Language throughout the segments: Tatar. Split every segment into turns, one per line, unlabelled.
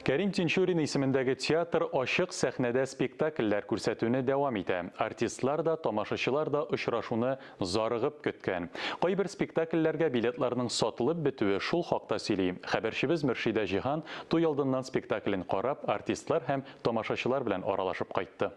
Кәрим Тинчурин исемендәге театр ачык сәхнәдә спектакльләр күрсәтүне дәвам итә. Артистлар да, тамашачылар да очрашуны зарыгып көткән. Кайбер спектакльләргә билетларның сатылып бетүе шул хакта сөйли. Хәбәрчебез Мөршидә Җиһан туй алдыннан спектаклен карап, артистлар һәм тамашачылар белән аралашып кайтты.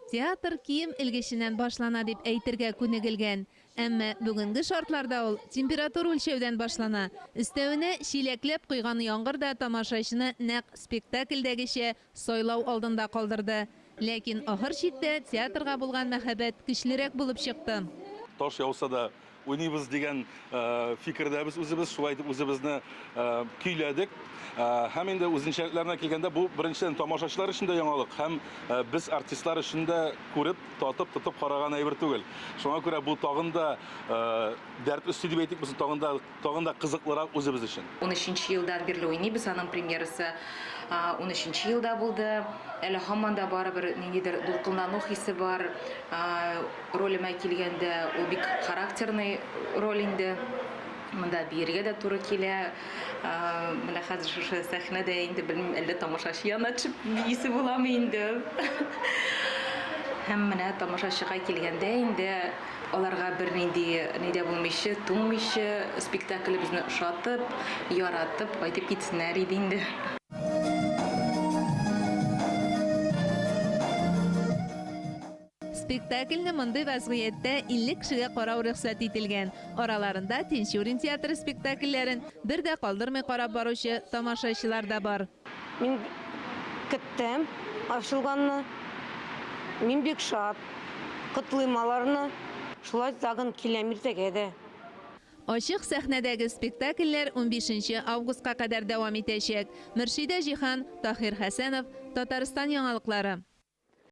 Театр кием элгеченнән башлана дип әйтергә күнегелгән. Әмма бүгенге шартларда ул температура үлчәүдән башлана. Өстәвенә, чиләкләп койган яңгыр да тамашачыны нәкъ спектакльдәгечә сайлау алдында калдырды. Ләкин ахыр чиктә театрга булган мәхәббәт көчлерәк булып чыкты. Таш яуса
да. Уйныйбыз дигән фикердәбез үзебез, шулай итеп үзебезне көйләдек. Һәм инде үзенчәлекләренә килгәндә, бу беренчедән тамашачылар өчен дә яңалык, һәм без артистлар өчен дә күреп, татып, тотып караган әйбер түгел. Шуңа күрә бу тагын да дәрт өсти дип әйтик, без тагын да, тагын да кызыклырак үзебез өчен. Унөченче елдан бирле
уйныйбыз, аның премьерасы унөченче елда булды. Әле һаман да барыбер ниндидер дулкынлану хисе бар. Ролемә килгәндә, ул бик характерный роль инде. Монда биергә дә туры килә. Ә, Менә хәзер шушы сәхнәдә инде белмим, әллә тамашачы янына төшеп биисе буламы инде. Һәм менә тамашачыга килгәндә инде, аларга бернинди ни дә булмыйча, туңмыйча, спектаклебезне ошатып, яратып кайтып китсеннәр иде инде.
Спектакльне мондый вәзгыятьтә 50 кешегә карау рөхсәт ителгән. Араларында Тинчурин театры спектакльләрен бер дә калдырмый карап баручы тамашачылар да бар. Мин
көттем ачылганны. Мин бик шат. Котлыйм аларны. Шулай тагын киләм иртәгә дә. Ачык
сәхнәдәге спектакльләр унбишенче августка кадәр дәвам итәчәк. Мөршидә Җиһан, Таһир Хәсәнов, Татарстан яңалыклары.